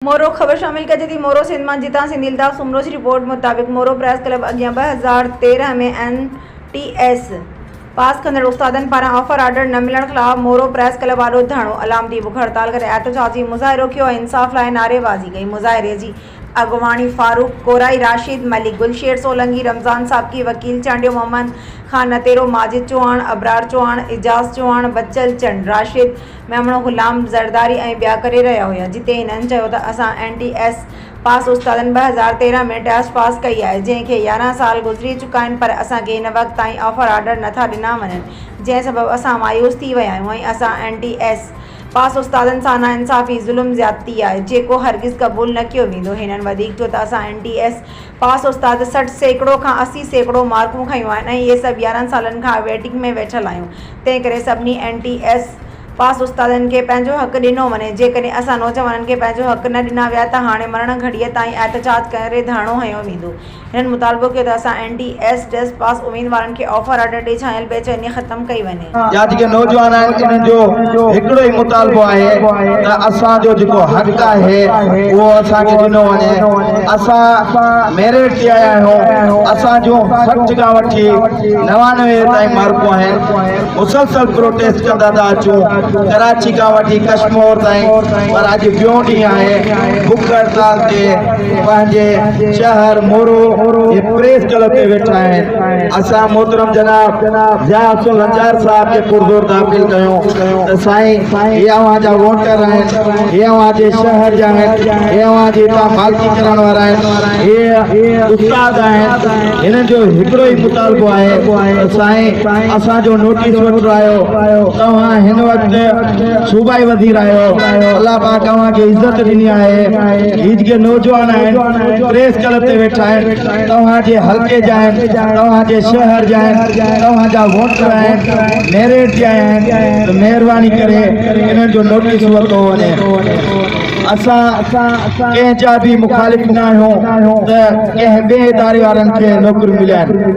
مورو، خبر شامل ڪجي ٿي مورو سنڌ مان جتان سنڌي الطاف سومرو جي رپورٽ مطابق مورو پريس ڪلب اڳيان ٻه هزار تيرهن ۾ اين ٽي ايس پاس ڪندڙ استادن پاران آفر آرڊر نه ملڻ خلاف مورو پريس ڪلب آڏو ڌرڻو، علامتي بک هڙتال ڪري احتجاجي مظاهرو ڪيو ۽ انصاف لاء نعري بازي ڪئي مظاهري جي اڳواڻي فاروق ڪورائي، راشد ملڪ، گل شير سولنگي، رمضان سابقي، وڪيل چانڊيو محمد خان نتيرو، ماجد چوهاڻ، ابرار چوهاڻ، اعجاز چوهاڻ، بچل چنڙ، راشد. ميمڻو غلام زرداري ۽ ٻيا ڪري رهيا هيا جتي هنن چيو ته اسان اين ٽي ايس پاس استادن ٻه هزار تيرهن ۾ ٽياسٽ پاس ڪئي آهي جنهن کي يارهن سال گذري چڪا آهن پر اسان کي هن وقت تائين آفر آرڊر نه ٿا ڏنا وڃن جنهن سبب اسان مايوس ٿي ويا آهيون ۽ اسان اين ٽي ايس پاس استادن سان ناانصافي ظلم زيادتي آهي جيڪو هرگز قبول نه ڪيو ويندو هنن وڌيڪ چيو ته اسان اين ٽي ايس پاس استاد سٺ سيڪڙو کان اسي سيڪڙو مارڪون کنيون آهن ۽ اهي سڀ يارهن سالن کان ويٽنگ ۾ ويٺل آهيون تنهنڪري سڀني اين ٽي ايس پاس استادن کي پنهنجو حق ڏنو وڃي جيڪڏهن اسان نوجوانن کي پنهنجو حق نه ڏنا ويا ته هاڻي مرڻ گهڙيء تائين احتجاج ڪري ڌرڻو هنيو ويندو هنن مطالبو ڪيو ته اسان اين ٽي ايس پاس اميدوارن کي آفر آرڊر ڏئي ڇانيل بيچيني ختم ڪئي وڃي. جا جيڪي نوجوان آهن انهن جو هڪڙو ئي مطالبو آهي ته اسان جو جيڪو حق آهي اهو اسان کي ڏنو وڃي اسان ميرٽ تي آيا آهيون اسان جون سٺ کان وٺي نوانوي تائين مارڪون آهن مسلسل پروٽيسٽ ڪندا ٿا اچون ڪراچي کان وٺي ڪشمور تائين پر اڄ ٽيون ڏينهن آهي بک هڙتال تي پنهنجي شهر مورو جي پريس ڪلب تي ويٺا آهن اسان محترم جناب ضياء حسن لنجار صاحب کي پرزور داخل ڪيون ته سائين هي اوهان جا ووٽر آهن هي اوهان جي شهر جا آهن هي اوهان جي هتان مالڪي ڪرڻ وارا آهن هي استاد آهن هنن جو هڪڙو ئي مطالبو آهي ته سائين اسان جو نوٽيس وٺڻ آيو توهان هن وقت صوبائي وزير آهيو الله پاڪ اوهان کي عزت ڏني آهي هي جيڪي نوجوان آهن پريس ڪلب تي ويٺا آهن توهان جي حلقي جا آهن، توهان جي شهر جا آهن، توهان جا ووٽر آهن، ميرٽ جا آهن ته مهرباني ڪري انهن جو نوٽيس ورتو وڃي. اسان ڪنهن جا به مخالف نه آهيون ته ڪنهن ٻئي اداري وارن کي نوڪريون ملائين.